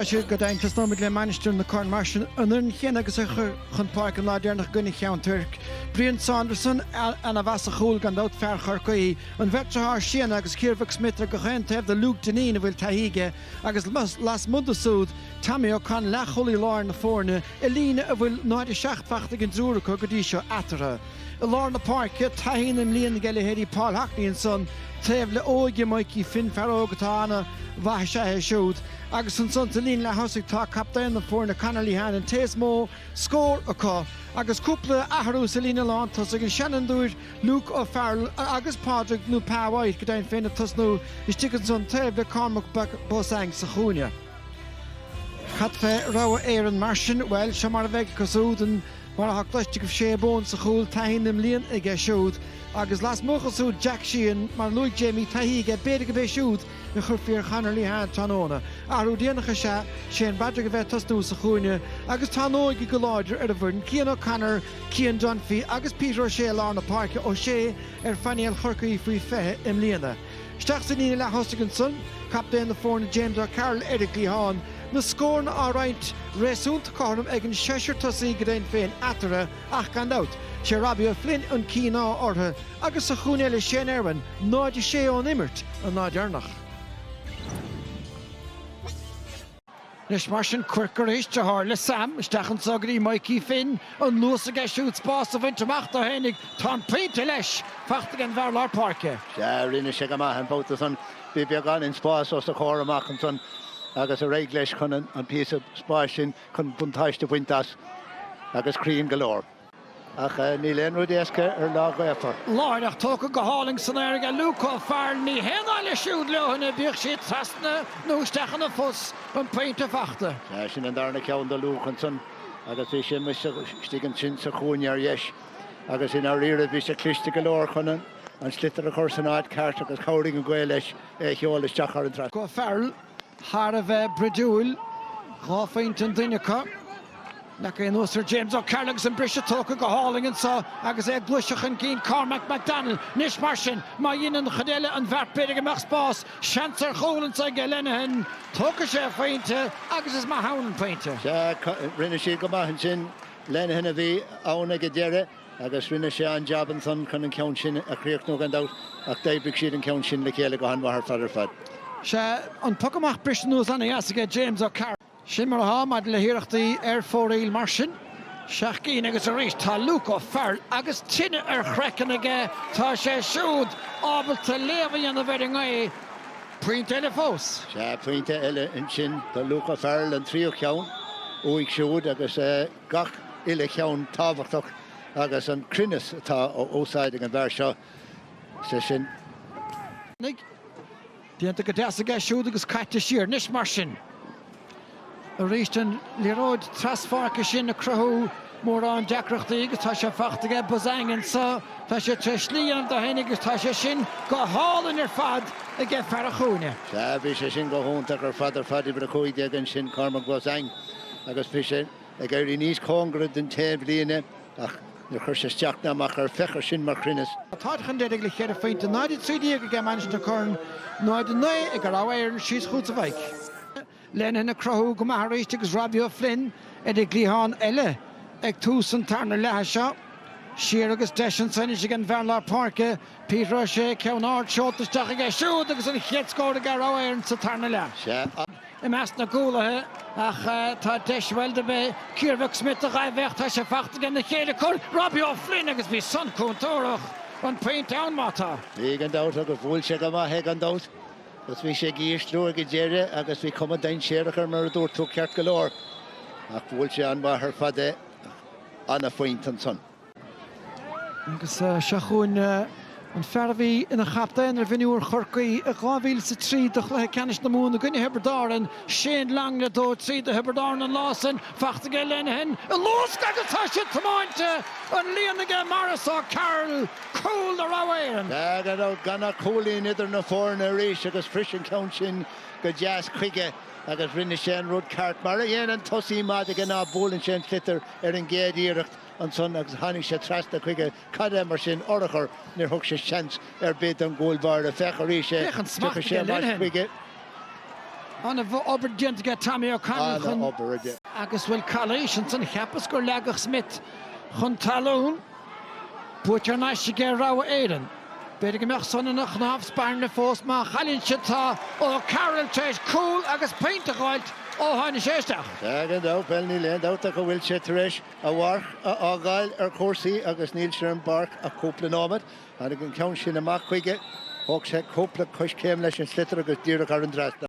Sea, go deimhin, tosnóimid le Mainistir na Corann mar sin, an fhoireann chéanna agus a chuir chun páirce an lá deireanach i gcoinne Cheann Toirc. Brion Saunderson, ana mhaith sa chúl gan dabht, fear Chorcaí, an bheirt dearthár Séadnaidh agus Ciarmhac Smyth ar gach aon taobh do Luke Dineen a bhfuil taithí aige agus lasmuigh de súd Tommy O'Connell leath-chúlaí láir na foirne, i líne a bhfuil 0:07 faighte ag an dtriúr acu go dtí seo eatarthu. I lár na páirce, taithí na mblian ag leithéidí Paul Haughney ansan taobh le óige Mikey Finn, fear óg atá ana mhaith is ea é siúd, agus ansan sa líne leath-thosaigh tá captaen na foirne Conor Lehane an té is mó scór acu agus cúpla athrú sa líne lán tosaigh, an seanfhondúir Luke O'Farrell agus Pádraig nó Pa White go deimhin féin ag tosnú istigh ansan taobh le Cormac Beausang sa chúinne. Cad fé Rogha Éireann mar sin? Bhuel, seo mar a bheidh acu súd. Mar atá cloiste agaibh Shay Bowen sa chúl, taithí na mblian aige siúd agus lasmuigh acu súd Jack Sheehan mar a luaigh Jamie taithí aige b'fhéidir gurb é siúd a chuirfí ar Chonor Lehane tráthnóna. Athrú déanach is ea Shane Broderick a bheith ag tosnú sa chúinne agus tá an óige go láidir ar an bhfoireann, Cian O'Connor, Cian Dunphy agus Peter O'Shea i lár na páirce, O'Shea ar phainéal Chorcaí faoi 20 i mbliana. Isteach sa líne leath-thosaigh ansan, captaen na foirne James O'Carroll ar an gcliathán, na scóranna á roinnt réasúnta cothrom ag an seisear tosaí go deimhin féin eatarthu ach gan dabht, sé Robbie O'Flynn an cíoná orthu agus sa chúinne eile Shane Irwin, 0-6 ón imirt, an lá deireanach. Anois mar sin Quirke arís deartháir le Sam isteach anso go dtí Mikey Finn, an luas aige siúd spás a bhaint amach dó fhéinig, tá an pointe leis, fachta ag an bhfear lár páirce. Sea, rinne sé go maith an babhta san, bhí beagáinín spás os a chomhair amach ansan agus d'éirigh leis chun an píosa spáis sin chun buntáiste bhaint as agus cruinn go leor. Ach níl aon rud éasca ar lá gaofar. Láithreach tógtha go hálainn san aer aige Luke O'Farrell, ní haon nath leis siúd leoithne, bíodh sí trasna nó isteach ina phus, an pointe fachta. Sea, sin an darna ceann do Luke ansan agus bhí sé amuigh istigh ansin sa chúinne ar dheis agus i ndáiríre bhí sé cliste go leor chun an sliotar a chur san áit cheart agus chabhraigh an ghaoth leis é a sheoladh isteach thar an trasnán. Luke O'Farrell. thar a bheith bruidiúil, dhá phointe an duine acu. Leagtha anuas ar James O'Carroll agus an briseadh tógtha go hálainn anseo agus é ag gluaiseacht chun cinn Cormac McDonnell. Anois mar sin, má dheineann an chuid eile an bheart b'fhéidir go mbeadh spás, seans ar chúl anseo aige Lenihan. Tógfaidh sé a phointe agus is maith ann an pointe. Sea, rinne siad go maith ansin. Lenihan a bhí ann ag an deireadh. Agus rinne sé an-jab ansan chun an ceann sin a chríochnú gan dabht ach d'oibrigh siad an ceann sin le chéile go han-mhaith ar fad ar fad. Sea, an poc amach briste anuas ana-dheas aige James O'Carroll. Sin mar atá maidir le hiarrachtaí ar fóraoil mar sin. Seacht gcinn agus arís tá Luke O'Farrell agus tine ar chraiceann aige. Tá sé siúd ábalta léamh a dhéanamh ar an ngaoth. Pointe eile fós. Sea, pointe eile ansin do Luke O'Farrell, an tríú ceann uaidh siúd agus. gach uile cheann tábhachtach agus an cruinneas atá á úsáid ag an bhfear seo, sé sin. Déanta go deas aige siúd agus caite siar anois mar sin. Arís an liathróid tras-pháirce sin ag cruthú mórán deacrachtaí agus tá sé faighte aige Beausang anseo. Tá sé tar éis slí a dhéanamh dó féin agus tá sé sin go hálainn ar fad aige fear an chúinne. Sea, bhí sé sin go hiontach ar fad ar fad, uimhir a cúig déag ansin, Cormac Beausang. agus bhí sé ag éirí níos cóngaraí don taobhlíne ach níor chuir sé isteach ná amach air, féach air sin mar chruinneas. Tá táid chun deiridh le ceithre phointe, 0 13 aige Mainistir na Corann, 0 9 aige Rogha Éireann síos go dtí Lenihan ag cruthú go maith arís agus Robbie O'Flynn ar an gcliathán eile ag tús an tarna leatha seo. Siar agus deis anso anois ag an bhfear lár páirce, Peter O'Shea, ceann ard seolta isteach aige siúd agus an chéad scór aige Rogha Éireann sa tarna leath. i measc na gcúlaithe ach tá deis bhuel dob é Ciarmhac Smyth a ghaibh é ach tá sé faighte aige na chéile comhraic Robbie O'Flynn agus bhí san contúrthach an pointe ann má tá. Bhí gan dabht agus bhuail sé go maith é gan dabht agus bhí sé ag ísliú ag an deireadh agus bhí cuma dainséarach air mar a dúirt tú ceart go leor ach bhuail sé an-mhaith ar fad é ach an-phointe ansan. Agus seo chugainn an fear a bhí ina chaptaen ar mhionúir Chorcaí i 2003 do chluiche ceannais na Mumhan i gcoinne Thiobraid Árann, Shane Long, le dó trí do Thiobraid Árann an lá sin. Faighte aige Lenihan i luasc agus tá sé tiomáinte don líon aige Maurice O'Carroll, cúl do Rogha Éireann. Gan dabht, gan ach cúilín idir na foirne arís agus bhris an ceann sin go deas chuige agus rinne sé an rud ceart. Mar a dhéanann tosaí maith de ghnáth buaileann sé an sliotar ar an gcéad iarracht. ansan agus tháinig sé trasna chuige, cad é mar sin urchar, níor thug sé seans ar bith don gcúl báire, féach arís é, Féach an smacht tiocfaidh sé aige ar ais Lenihan. chuige. Ana obair déanta aige Tommy O'Connell Ana chun. obair aige. Agus an bhfuil calaois ansan, cheapas gur leagadh Smyth chun talún. Buaite thar n-ais aige Rogha Éireann. B'fhéidir go mbeadh san ina chnámh spairne fós má chailleann siad tá O'Carroll tar éis cúl agus pointe a ghabháilt ó tháinig sé isteach. Tá gan dabht, bhuel, níl aon dabht ach go bhfuil sé tar éis. a mharc a fhágáil ar chúrsaí agus níl sé ar an bpáirc ach cúpla nóiméad. Tháinig an ceann sin amach chuige, thóg sé cúpla coiscéim leis an sliotar agus díreach thar an dtrasnán.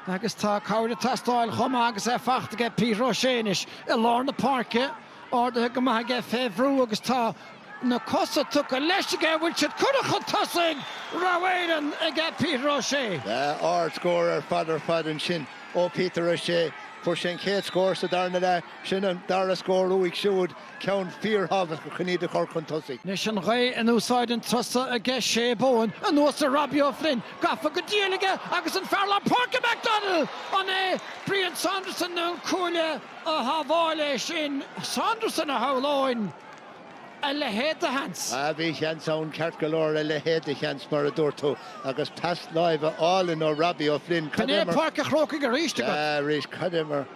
Agus tá cabhair ag teastáil chomh maith agus é fachta aige, Peter O'Shea anois i lár na páirce, ardaithe go maith aige fé bhrú agus tá na cosa tugtha leis aige, an bhfuil siad curtha chun tosaigh? Rogha Éireann ag Peter O'Shea. Ard-scór ar fad ar fad ansin ó Peter O'Shea. Fuair sé an chéad scór sa darna leath. Sin an dara scór uaidh siúd, ceann fíorthábhachtach chun iad a chur chun tosaigh. Anois an ghaoth in úsáid an turas so aige Shay Bowen anuas ar Robbie O'Flynn, gafa go diail aige agus an fear lár páirce McDonnell! An é Brion Saunderson nó an cuaille a shábháil é sin? Saunderson a shamhlóinn a leithéid de sheans. Ah bhí seans ann ceart go leor, a leithéid de sheans mar a dúirt tú, agus pas láimhe álainn ó Robbie O'Flynn, cad é mar... B'in é Páirc a' Chrócaigh arís agat. Sea arís, cad é mar...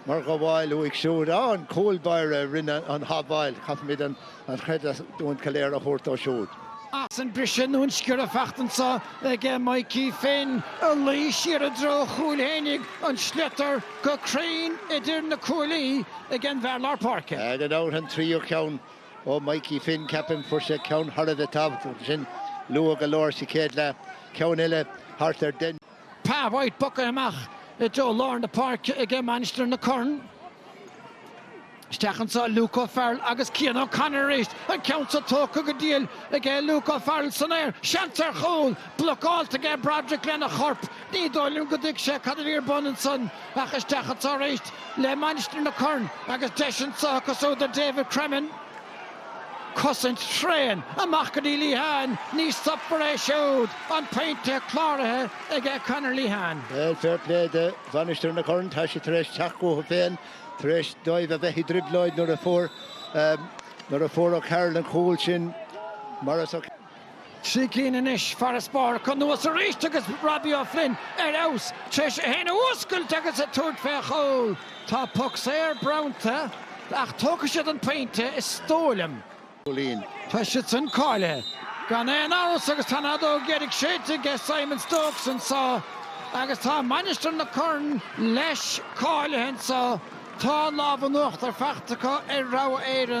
Mar ghabháil uaidh siúd, á, an cúl báire a rinne an ghabháil, caithfimid an chreidiúint go léir a thabhairt dó siúd. As an mbriseadh nó an sciorradh fachta anseo ag Mikey Finn, ag luí siar i dtreo a chúil fhéinig an sliotar go cruinn idir na cuaillí ag an bhfear lár páirce. Gan dabht an tríú ceann ó Mikey Finn, ceapaim, fuair sé ceann thar a bheith tábhachtach ansin luath go leor sa chéad leath, ceann eile thart ar Den. Pa White bogtha amach i dtreo lár na páirce aige Mainistir na Corann. Isteach anseo Luke O'Farrell agus Cian O'Connor arís. An ceann seo tógtha go diail aige Luke O'Farrell san aer. Seans ar chúl! Blocáilte aige Broderick lena chorp. Ní dóigh liom go dtuig sé cad a bhí ar bun ansan ach isteach anseo arís le Mainistir na Corann agus deis anseo acu siúd David Cremin. Cosaint thréan amach go dtí Lehane, ní stopfar é siúd. An pointe cláraithe aige Conor Lehane. Bhuel, fair play do Mhainistir na Corann, tá sé tar éis teacht chucu féin tar éis dóibh a bheith i dtrioblóid nuair a fuair O'Carroll an cúl sin. Trí cinn anois, farasbarr anuas arís agus Robbie O'Flynn ar fheabhas tar éis é féin a fhuascailt agus ag tabhairt fé chúl. Tá poc saor bronnta ach tógfaidh siad an pointe, is dóigh liom. Tá siadsan cáilithe, gan aon amhras agus tá an fheadóg dheiridh séidte aige Simon Stokes anseo agus tá Mainistir na Corann, leis, cáilithe anseo. Tá an lámh in uachtar fachta acu ar Rogha Éireann.